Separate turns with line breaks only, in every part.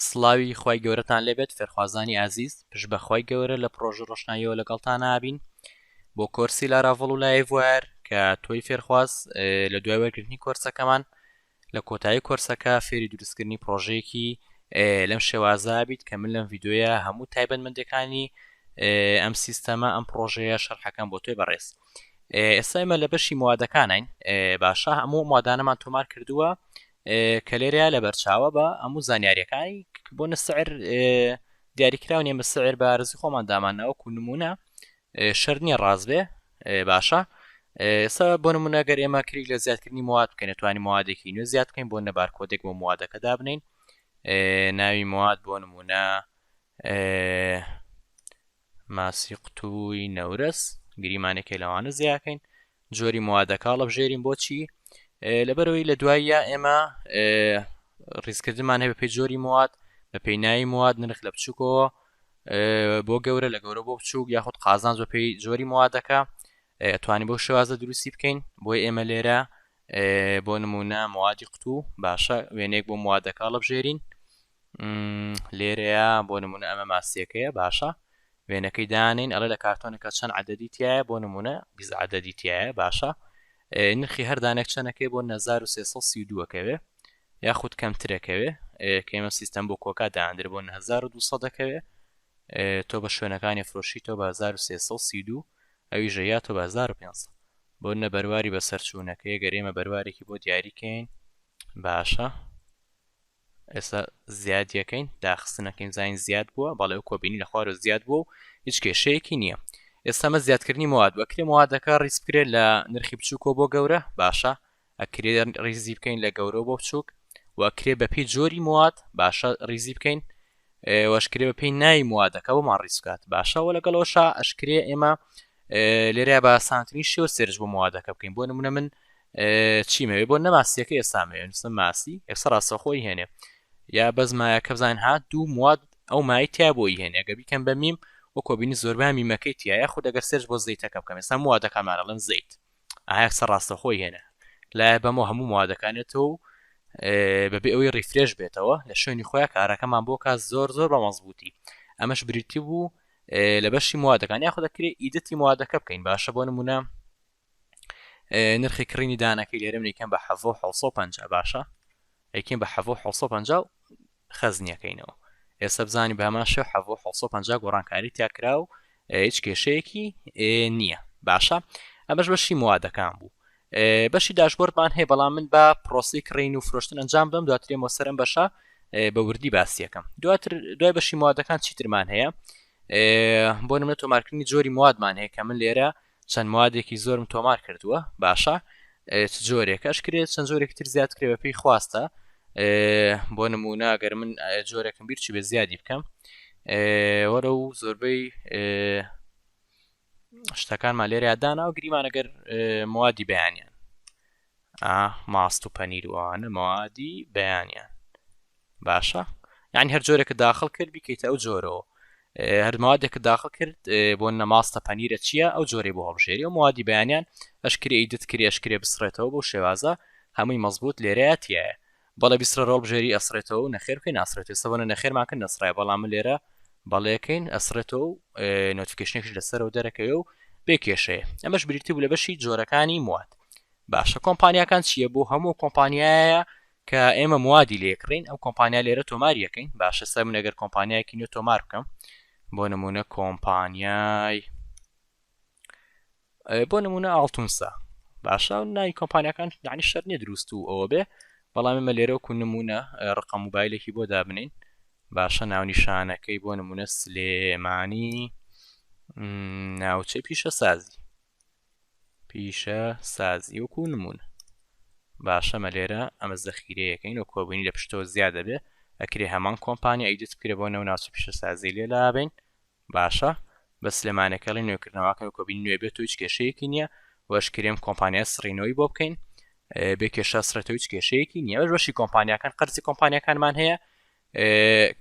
سڵاوی خوای گەورەتان لێبێت فێرخوازانی ئازیز پشت بەخوای گەورە لە پڕۆژە ڕۆشناییەوە لەگەڵتان ئابین بۆ کۆرسی لاراڤڵ و لایڤوار کە تۆی فێرخواز لە دوای وەرگرتنی کۆرسەکەمان لە کۆتایی کۆرسەکە فێری دروستکردنی پرۆژەیەکی لەم شێوازە بیت کە من لەم یددیوە هەموو تایبەت مندەکانی ئەم سیستەمە ئەم پرۆژەیە شەرحەکەم بۆ توێ بەڕێز ئێستا ئمە لە بەشی موادەکانین باشە هەموو مادانەمان تۆمار کردووە کە لێرەیا لەبەر چاوە بە ئەموو زانیاریەکانی بۆ نسعر دیاریکراو نیە مسعر بە رزی خۆمان دامان ناوەکو نمونە شەر نیە ڕاز بێ باشە ئێستا بۆ نمونە گەر ئێمە کریک لە زیادکردنی مواد بکەین توانی موادێکی نوێ زیاد بکەین بۆ نەبار کۆدێک بۆ موادەکە دابنین ناوی مواد بۆ نمونە ماسی قوتووی نەورەس گریمانێکی لەوانە زیاکەین جۆری موادەکە هەڵەبژێرین بۆچی لەبەرەوەی لە دواییە ئێمە ڕیزکردمان هەیە بەپی جۆری مواد بە پێینایی مواد نرخ لە بچووکەوە بۆ گەورە لە گەورە بۆ بچووک یاخود قازان زۆ پێی جۆری موادەکە توانی بۆ شێوازە دروستی بکەین بۆی ئێمە لێرە بۆ نمونە موادی قوتوو باشە وێنێک بۆ موادەکە هەڵبژێرین لێرەیە بۆ نمونە ئەمە ماسیەکەیە باشە وێنەکەی دانین ئەڵێ لە کارتۆنەکە چەند عدەدی تایە بۆ نمونە بیزعدەدی تایە باشە نرخی هەردانێک چەنەکەی بۆ 1932ەکەوێ یاخود کەمترەکەوێ کەمە سیستەم بۆ کۆکا داندر بۆ 1920 دەکەوێ تۆ بە شوێنەکانی فرۆشی تۆ بە 1932 ئەوی ژەیە تۆ بە 1500 بۆ نە بەرواری بەسەرچوونەکەی گەرێمە بەروارێکی بۆ دیاریکەین باشە ئێستا زیادیەکەین داخستنەکەین زانین زیاد بووە بەڵێ وەکو بینی لە خوارەوە زیاد بووە و هیچ کێشەیەکی نییە ئێستا مە زیادکردنی مواد بەکرێ موادەکە ڕیز بکرێت لە نرخی بچووکەوە بۆ گەورە باشە ئەکرێ ڕیزی بکەین لە گەورە بۆ بچووک وەکرێ بەپی جۆری مواد باشە ڕیزی بکەین وەشکرێ بە پێی نای موادەکە بۆمان ڕیز بکات باشەوە لەگەڵەوەشا ئەشکرێ ئێمە لێرە بە سانتنی شێوە سێرج بۆ موادەکە بکەین بۆ نمونە من چیم هەوێ بۆ نەماسیەکە ئێستا مەوێ نووسم ماسی ئێستا ڕاستەخۆی هێنێ یا بەس مایەکە بزانین ها دوو مواد ئەو مای تیا بۆی هێنێ گە بیکەم بە میم و کۆبینی زۆربا میمەکەی تایە خود دەگەر سێرش بۆ زەیتەکە بکەم ئێستا موادەکانمان ئەڵێن زەیت ئایا سە ڕاستەخۆی هێنێ لایە بەمە هەموو موادەکانێتەوە و بەبێ ئەوەی ڕیفرێش بێتەوە لە شوێنی خۆیان کارەکەمان بۆ کا زۆر زۆر بە مەزبووتی ئەمەش بریتی بوو لە بەشی موادەکان یاخۆ دەکرێت ئیدەتی موادەکە بکەین باشە بۆ نمونە نرخی کڕینی دانەکەی لێرم یکەم بە حەڤۆ 1950 باشە یکەم بە حەڤۆ 1950 خەزنیەکەینەوە ئێستا بزانانی بە هەمان شێ حەڤۆ 1950 گۆڕانکاری تاکرا و هیچ کێشەیەکی نییە باشە ئەمەش بەشی موادەکان بوو بەشی داشبۆردمان هەیە بەڵام من بە پرۆسی کڕین و فرۆشتن ئەنجام دەم دواترێ مۆسەرم بەشە بە وردی باسیەکەم دواتر دوای بەشی موادەکان چیترمان هەیە بۆ نمە تۆمارکردنی جۆری موادمان هەیە کە من لێرە چەند موادێکی زۆرم تۆمار کردووە باشە چ جۆرێک ئەشکرێت چەند جۆرێکی تر زیاد کرێ بە پێی خواستە بۆ نمونە گەر من جۆرێکم بیرچی بە زیادی بکەم وەرە و زۆربەی شتەکانمان لێرە یادانەوە گریمانەگەر موادی بەیانیان ئا ماست و پەنیر وانە موادی بەیانیان باشە یعنی هەر جۆرێکە داخل کرد بیکەیتە ئەو جۆرەوە هەرمادێکە داخل کرد بۆ نەماستە پەنیرە چییە ئەو جۆری بۆ هەڵبژێری و موادی بەیانیان ئەشکری ئیدت کرێشکرێ بسڕێتەوە بۆ شێوازە هەمووی مەزبوط لێرەیەتیایە بەڵێ بیسڕە ڕۆڵ بژێری ئەسڕێتەوە و نەخێر بکەی ناسڕێت ئێستا بۆنە نەخێرمان کرد نەسڕایە بەڵام من لێرە بەڵێ کەین ئەسڕێتەوە و نۆتیکشنێکش لەسەرەوە دەرەکەوێ و بێ کێشەیە ئەمەش بریتی بوو لە بەشی جۆرەکانی مواد باشە کۆمپانیاکان چییە بۆ هەموو کۆمپانیایە کە ئێمە موادی لێکڕین ئەو کۆمپانیا لێرە تۆماریەکەین باشە سەر من ئەگەر کۆمپانیایەکی نوێ تۆمار بکەم بۆ نمونە کۆمپانیای بۆ نمونە ئاڵتونسا باشە ناوی کۆمپانیەکان یعنی شەر نیە دروست و ئەوە بێ بەڵامی مە لێرەوەکو نمونە ڕقە موبایلێکی بۆ دابنین باشە ناونیشانەکەی بۆ نمونە سلێمانی ناوچەی پیشە سازی پیشە سازی وەکو نمونە باشە مە لێرە ئەمە زەخیرەیەەکەین و کۆبوونی لە پشتەوە زیاد دەبێ ئەکرێ هەمان کۆمپانیا ئیدت بکرێ بۆ نەو ناوچە پیشە سازی لێ لابین باشە بەس سلێمانێکە ڵی نوێکردنەواکەن کۆبین نوێ بێت و هیچ کێشەیەکی نییە وەش کرێم کۆمپانیا سڕینەوەی بۆ بکەین بێ کێشە سرێتەوە هیچ کێشەیەکی نییە بەش بەشی کۆمپانیاکان قەرزی کۆمپانیەکانمان هەیە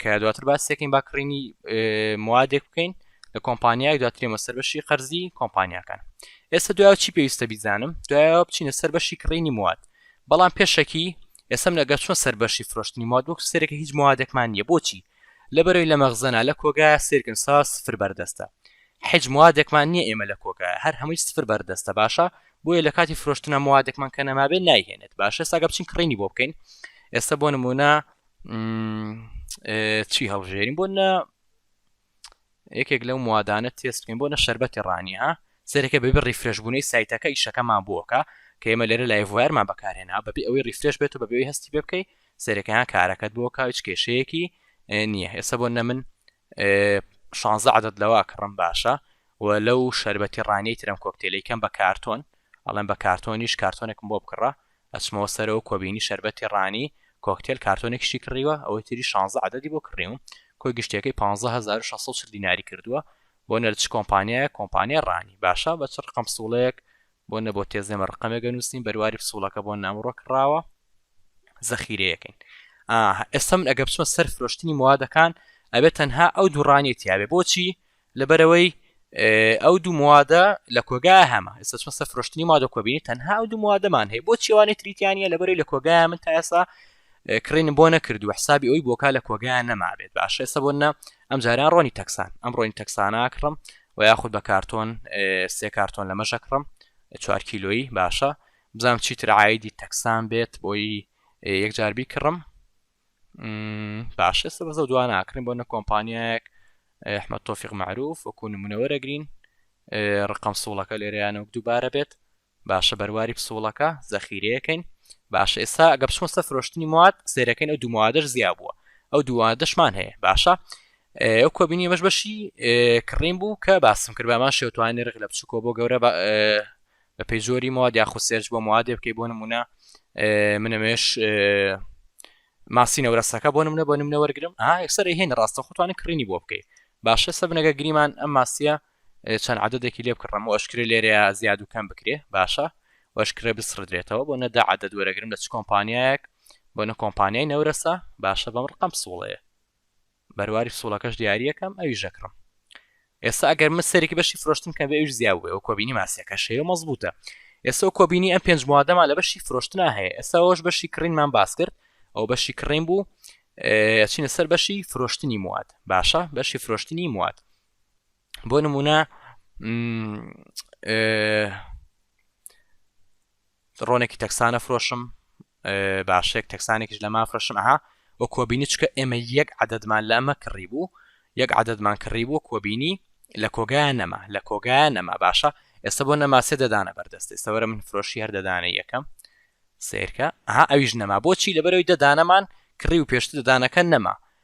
کە دواتر باسێکین با کڕینی موادێک بکەین لە کۆمپانیای دواترێمە سەر بەشی قەرزی کۆمپانیاکان ئێستا دوای چی پێویستە بیزانم دوایەوە بچینە سەر بەشی کڕینی مواد بەڵام پێشەکی ئێسم لەگە چۆن سەر بەشی فرۆشتنی مادوک سەرێکە هیچ موادێکمان نییە بۆچی لە بەرەی لە مەغزەنا لە کۆگایە سیرکن سا سفر بەردەستە حیج موادێکمان نیە ئێمە لە کۆگایە هەر هەمووی سفر بەردەستە باشە بۆیە لە کاتی فرۆشتنا موادێکمان کە نەمابێ نایهێنێت باشە ساگە بچین کڕینی بۆ بکەین ئێستا بۆ نمونە چی هەڵژێرین بۆ نە یەکێک لەو موادانە تێست بکەین بۆ نە شەربەتی ڕانی ها سەیرەکە بەبێ ڕیفرێش بونەی سایتەکە ئیشەکەمان بۆکە کە ئێمە لێرە لایڤ وایەرمان بەکارهێنا بەبێ ئەوەی ڕیفرێش بێت و بەبێ ئەوەی هەستی پێ بکەی سەیرەکە ها کارەکەت بۆکە هیچ کێشەیەکی نییە ئێستا بۆ نە من 16 عدد لەوا کڕم باشە و لەو شەربەتی ڕانیەی ترم کۆکتێلی کەم بە کارتۆن ئەڵێن بە کارتۆنیش کارتۆنێکم بۆ بکڕە ئەچمەوە سەرەوە کۆ بینی شەربەتی ڕانی کۆکتێل کارتۆنێکیشی کڕیوە ئەوەی تری شانزە عەدەدی بۆ کڕیوم کۆی گشتیەکەی پانزە هەزار و شەست سەد و چل دیناری کردووە بۆ نەر چ کۆمپانیایەک کۆمپانیای ڕانی باشە بە چ ڕقم پسووڵەیەک بۆ نەبۆ تێزێمە ڕقەمێک ئەنووسین بەرواری پسووڵەکە بۆ نامڕۆ کڕاوە زەخیرەیەکەین ئاها ئێستا من ئەگە بچمە سەر فرۆشتنی موادەکان ئەبێت تەنها ئەو دووڕانیە تیاێ بۆچی لەبەرئەوەی ئەو دوو موادە لە کۆگا هەمە ئێستا چۆن سەر فرۆشتنی مادە کۆبینی تەنها ئەو دوو موادەمان هەیە بۆ چێوانێ تریتیانە لە بەرەی لە کۆگای من تا ئێسا کڕین بۆ نەکردو حسابی ئەوی بۆکە لە کۆگای نەمابێت باشە ئێستا بۆ نە ئەم جاران ڕۆنی تەکسان ئەم ڕۆین تەکسانە کڕم و یاخود بە کارتۆن سێ کارتۆن لە مەشە کڕم چوار کیلۆیی باشە بزانام چیتر عیدی تەکسان بێت بۆی یەکجاربی کڕم باش ئێستا بەزە دوا ناکرین بۆ نە کۆمپانیایەک ئەحمە تۆفیق معروف وەکو نمونەوەرەگرین ڕقم سوڵەکە لێرەیانە وەک دووبارە بێت باشە بەرواری پسوڵەکە زەخیرەکەین باشە ئێستا گە بچمە سەر فرۆشتنی مواد سێرەکەین ئەو دومادەش زیاد بووە ئەو دووادەشمان هەیە باشە ئەو کۆبینی بەش بەشی کڕین بوو کە باسم کرد بامان شێوتوانی ڕێک لە بچووکۆ بۆ گەورە بەپێی جۆری مواد یاخود سێرچ بۆ موادێ بکەی بۆ نمونە منەمێش ماسی نەورەسەکە بۆ نمونە بۆ نمونە وەرگرم ئا یەکسەر هێن ڕاستە خۆتوانە کڕینی بۆ بکەیت باشە سە بنەگە گریمان ئەم ماسیە چەند عادەتێکی لێ بکڕم و ئەشکرێ لێرەیە زیاد و کەم بکرێ باشە وەشکرێ بسڕدرێتەوە بۆ نەدا عادەت وەرەگرم لە چ کۆمپانیایەک بۆ نە کۆمپانیای نەورەسە باشە بەم ڕقم سوڵەیە بەرواری پسوڵەکەش دیاریەکەم ئەویش ئەکڕم ئێستا ئەگەر من سەرێکی بەشی فرۆشتن کە بێویش زیاب بێ و کۆبینی ماسیەکە شەیە مەزبوتە ئێستا و کۆبینی ئەم پێنج موادەما لە بەشی فرۆشتنا هەیە ئێستاەوەش بەشی کڕینمان باس کرد ئەو بەشی کڕین بوو چینە سەر بەشی فرۆشتنی مواد باشە بەشی فرۆشتنی مواد بۆ نمونە ڕۆنێکی تەکسانە فرۆشم باشێک تەکسانێکیش لە مافرەشم ئەها وە کۆبینی چکە ئێمە یەک عددمان لە ئەمە کڕی بوو یەک عددمان کڕی بوو کۆبینی لە کۆگایان نەما لە کۆگایان نەما باشە ئێستا بۆ نەما سێ دەدانە بەردەست ئێستاوەرە من فرۆشی هەر دەدانە یەکەم سیرکە ئەها ئەویش نەما بۆچی لەبەرەوەی دەدانەمان کڕی و پێشتر دەدانەکە نەما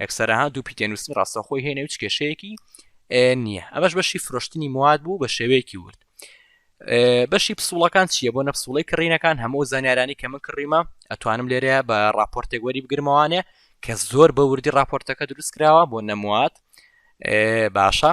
ئەکسەرەها دوو پیتێنووسی ڕاستەخۆی هێنێ و کێشەیەکی نییە ئەمەش بەشی فرۆشتنی مواد بوو بە شێوەیەکی ورد بەشی پسوڵەکان چییە بۆ نەپسوڵی کڕینەکان هەموو زانیارانی کە من کڕیمە ئەتوانم لێرەیە بە راپۆرتێک وەری بگرمەوانێ کە زۆر بە وردی راپۆرتەکە دروست کراوە بۆ نەموات باشە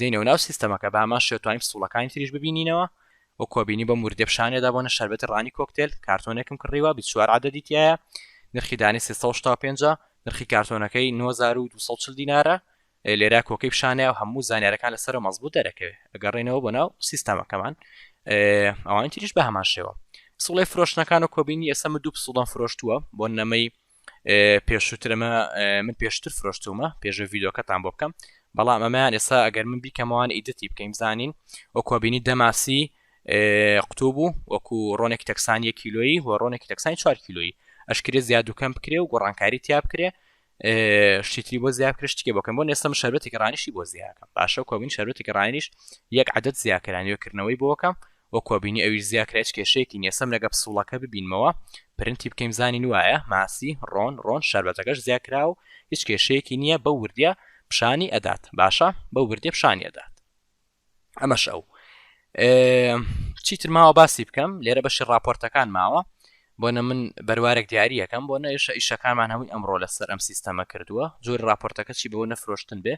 دێنەوە ناو سیستەمەکە بە هەمان شێوە توانین فسوڵەکانی تریش ببینینەوە و کۆبینی بەم وردە پیشانێدا بۆنە شربەتی ڕانی کۆکتێل کارتۆنێکم کڕیوە بی چوار عادەدی تایە نرخی دانی 365 نرخی کارتۆنەکەی 9240 دینارە لێرا کۆکەی پیشانەیە و هەموو زانیارەکان لەسەر مەزبوو دەرەکەوێت ئەگەڕێنەوە بۆ ناو سیستەمەکەمان ئەوان تریش بە هەمان شێوە سوڵی فرۆشتنەکان و کۆبینی ئێسەمە دوو پسوڵدان فرۆشتووە بۆ نەمەی پێشووتر ئەمە من پێشتر فرۆشتومە پێشە ڤیددیوکەتان بۆ بکەم بەڵام ئەمەیان ئێستا ئەگەر من بیکەمەوان ئیدەتی بکەین زانین ئۆکۆبینی دەماسی قوتوو بوو وەکو ڕۆنێک تەکسانی کیلۆیی و ڕۆنێکی تەکسانی چوار کیلۆیی ئەشکرێ زیادوکەم بکرێ و گۆڕانکاری تیا بکرێ شتری بۆ زیاب کرد شتێ بۆکەم بۆ ئێستا شەربەتی ڕانیشی بۆ زیاکەم باشە کۆبین شەربەتی ڕانیش یەک عادەت زیاکرانی وکردنەوەی بۆکەم وەکوە بینی ئەویش زیا کرا هیچ کێشەیەکی نیە سم لەگە پسوڵەکە ببینمەوە پرنتی بکەین زانین وایە ماسی ڕۆن ڕۆن شاربەجەکەش زیا کراوە و هیچ کێشەیەکی نیە بەو وردیە پشانی ئەدات باشە بەو وردیە پشانی ئەدات ئەمەش ئەو چیتر ماوە باسی بکەم لێرە بەشی راپۆرتەکان ماوە بۆنە من بەروارێک دیارریەکەم بۆ نەیشە ئیشەکانمان هەمووی ئەمڕۆ لەسەر ئەم سیستەمە کردووە جۆر راپۆرتەکە چی بۆ نەفرۆشتن بێ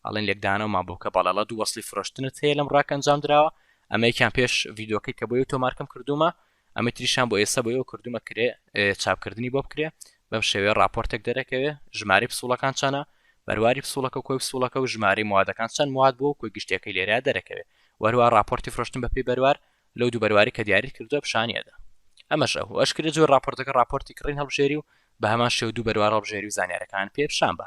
ئەڵێن لێکدانەوە ما بۆکە بەڵێ ڵە دوو وەسڵی فرۆشتنت هەیە لەم ڕاکە ئەنجام دراوە ئەمەیکیان پێش ڤیدۆکەی کە بۆ یو تۆمارکەم کردومە ئەمە تریشان بۆ ئێستا بۆ ئەو کردومە کرێ چاپکردنی بۆ بکرێ بەم شێوەیە راپۆرتێک دەرەکەوێ ژماری پسوڵەکان چەنە بەرواری پسوڵەکە و کۆی پسوڵەکە و ژماری موادەکان چەند مواد بۆ کۆی گشتەکەی لێرە دەرەکەوێ وەروە راپۆرتی فرۆشتن بەپی بەروار لەو دوو بەرواری کە دیاری کردوە پیشانیەدا ئەمەش ئەو ئەشکرە جۆر راپۆرتەکە راپۆرتی کڕین هەڵبژێری و بە هەمان شێو دوو بەروار هەڵبژێری و زانیارەکان پێ پیشان بە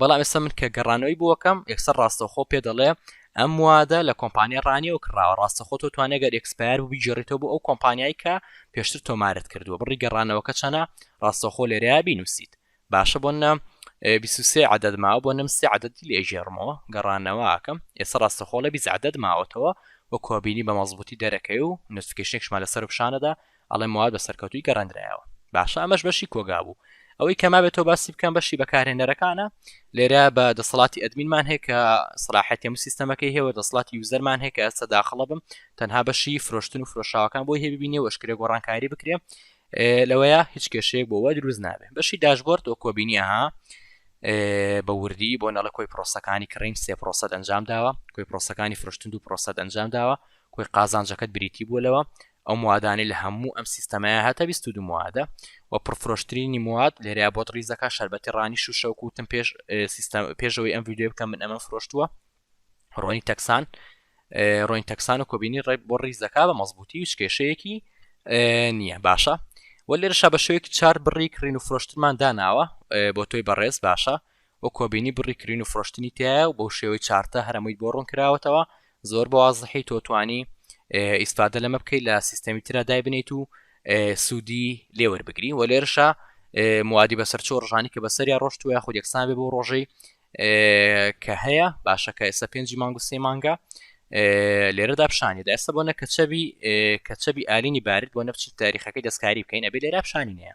بەڵام ئێستا من کە گەڕانەوەی بۆکەم ئێکسەر ڕاستەخۆ پێ دەڵێ ئەم وادە لە کۆمپانیا ڕانیەوە کراوە ڕاستەخۆ تۆ توانێگەر ئەکسپار بوو بگەڕێتەوە بۆ ئەو کۆمپانیای کە پێشتر تۆمارت کردووە بڕی گەڕانەوەکە چەنە ڕاستەخۆ لێرە بینوسیت باشە بۆ نە بیسوسێ عدد ماوە بۆ نم سێ عددی لێ ژێرمەوە گەڕانەوەکەم ئێستا ڕاستەخۆڵە بیز عدد ماوەتەوە وە کۆبینی بە مەزبوطی دەرەکەی و نوتفکشنێکشمان لەسەر پیششانەدا ئەڵێم مواد بە سەرکەوتوی گەڕێندرایەوە باشە ئەمەش بەشی کۆگا بوو ئەوەی کەمابێتەوە باسی بکەم بەشی بەکارهێنەرەکانە لێرە بە دەسەڵاتی ئەدمینمان هەیە کە سلاحەتی هەموو سیستەمەکەی هێوە دەسڵاتی یوزەرمان هەیە کە ئەستا داخڵە بم تەنها بەشی فرۆشتن و فرۆشاوەکان بۆی هێبینێ وەشکرێ گۆڕانکاری بکرێ لەوەیە هیچ کێشەیەک بۆوە دروست نابێ بەشی داشبۆرد و کۆبینیها بە وردی بۆ نەڵە کۆی پرۆسەکانی کڕین سێ پرۆسەت ئەنجام داوە کۆی پرۆسەکانی فرشتن و پرۆسەت ئەنجام داوە کۆی قازانجەکەت بریتی بووە لەوە ئەو موادانەی لە هەموو ئەم سیستەمەیە هەتا بیست و دوو موادە و پڕفرۆشترینی مواد لێرەیە بۆت ڕیز دەکات شەربەتی ڕانی شوشە و کوتم پێش سیستەم پێشەوەی ئەم ویددیو بکەم من ئەمە فرۆشتووە ڕۆنی تەکسان ڕۆین تەکسان و کۆبینی ڕێک بۆ ڕیز دەکا بە مەزبوتی و شکێشەیەکی نییە باشە وە لێرەشا بە شوێکی چار بڕی کڕین و فرۆشتمان داناوە بۆ تۆی بەڕێز باشە و کۆبینی بڕی کرین و فرۆشتنی تیایە و بەو شێوەی چارتە هەرەموویت بۆ ڕوون کراوەتەوە زۆر بە وازحی تۆ توانی ئیسفادە لەمە بکەیت لە سیستەمی ترا دایبنیت و سوودی لێوەربگری و لێرشە موادی بەسەرچۆ ڕژانی کە بەسەریا ڕۆشت وە خود یەکسان بێ بۆ ڕۆژەی کە هەیە باشەکە ئێستا پێنجی مانگ و سێ مانگە لێرەدا پیشانی دەسە بۆ نە کەچەبی کەچەبی ئالینی بارد بۆ نەفچی تاریخەکەی دەستکاری بکەین ئەبێ لێرا پیشانی نیە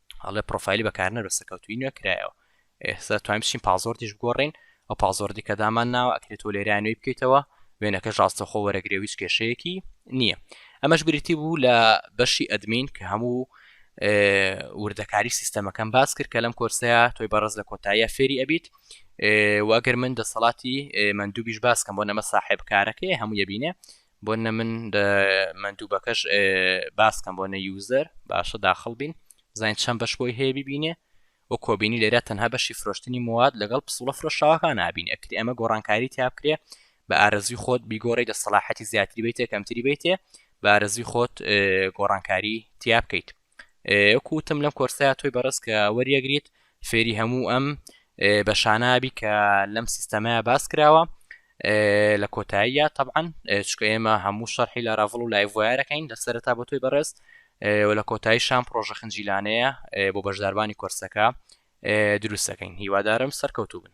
ئەڵێ پرۆفایلی بەکارنەر بە سەکەوتوی نوێ کرایەوە ئێستا توانین بچین پازۆردیش بگۆڕین ئەو پازۆردی کە دامان ناوە ئەکرێت و لێرا نوێی بکەیتەوە وێنەکە ڕاستەخۆ وەرەگرێویش کێشەیەکی نییە ئەمەش بریتی بوو لە بەشی ئەدمین کە هەموو وردەکاری سیستەمەکەم باس کرد کە لەم کۆرسەیە تۆی بەڕز لە کۆتاییە فێری ئەبیت واگەر من دەسەڵاتی مندوبیش باسکەم بۆ نەمە ساحب کارەکەی هەموو یبینێ بۆنە من مەندوبەکەش باسکەم بۆنە یوزەر باشە داخل بین بزانین چەند بەش بۆی هەیە ببینێ و کۆبینی لێرە تەنها بەشی فرۆشتنی مواد لەگەڵ پسوڵە فرۆشاوەکان نبین ئەکری ئەمە گۆڕانکاری تیابکرێ بە ئارزوی خۆت بیگۆڕی دەسەڵاحەتی زیاتری بیتێ کەمتری بیتێ بارزوی خۆت گۆڕانکاری تیا بکەیت وەکو وتم لەم کۆرسەیە تۆی بەڕێز کە وەریەگریت فێری هەموو ئەم بە شانابی کە لەم سیستەمەیە باس کراوە لە کۆتاییە طبعاً چکە ئێمە هەموو شەرحی لە ڕاڤڵ و لایڤایەکەین لە سەرتا بۆ تۆی بەڕێز و لە کۆتایی شان پرۆژە خنجیلانەیە بۆ بەشداربانی کۆرسەکە دروستەکەین هیوادارم سەرکەوتوو بن